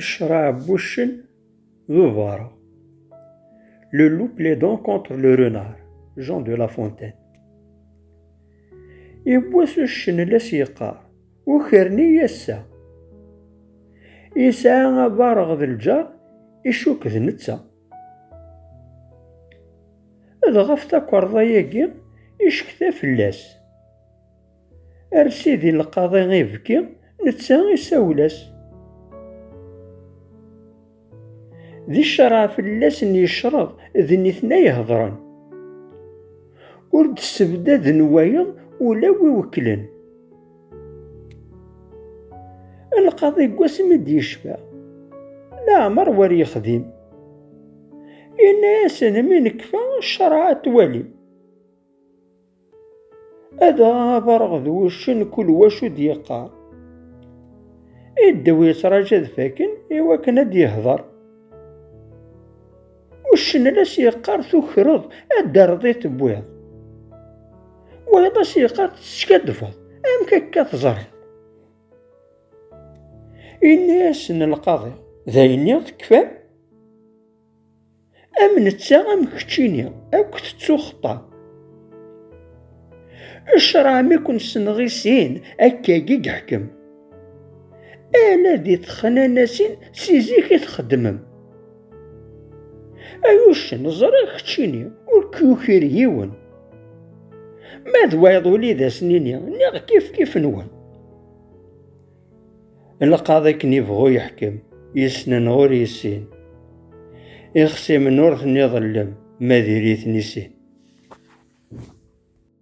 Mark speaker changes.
Speaker 1: Ccṛeɛ n wuccen d ubareɣ. Le loup plaidant contre le renard, Jean de La Fontaine. Yewwas uccen la s-yeqqar, ukren-iyi ass-a. Yesɛa abareɣ d lǧar, icuk d netta. Dɣa ɣef takerḍa-agi, yecekta fell-as. Ar sidi lqaḍi ibki, netta isawel-as. D ccerɛa fell-as n yecreḍ, d nitni ay ihedren. Ur d-ssebdaden wayeḍ ula wi wekklen. Lqaḍi deg wasmi d-yecfa, leɛmer wer yexdim. Yenna-asen mi nekfa ccerɛa ad twalim. Ad aɣareɣ d wuccen kul wacu d-yeqqar. I ddew yettṛaǧa ad faken i wakken ad d-yehder. Uccen la s-yeqqar tukreḍ ad d-terreḍ i tewwiḍ. Wayeḍ la s-yeqqar teskaddbeḍ amek akka teẓriḍ. Yenna-yasen lqaḍi, d ayenni tekfam? Am netta am keččini, akk tettuxeṭṭa. Ecra mi kun-senɣ i sin, akkagi geḥkem. Ala di texnanasin si zik i txeddmem. Ay uccen, ẓriɣ keččini, ur k-yukir yiwen. Ma d wayeḍ uli d as-nini, niɣ kif kif-nwen. Lqaḍ akken ibɣu yeḥkem, yesnen ur yessin. Ixsimen ur ten-iḍellem, ma diri-ten isin.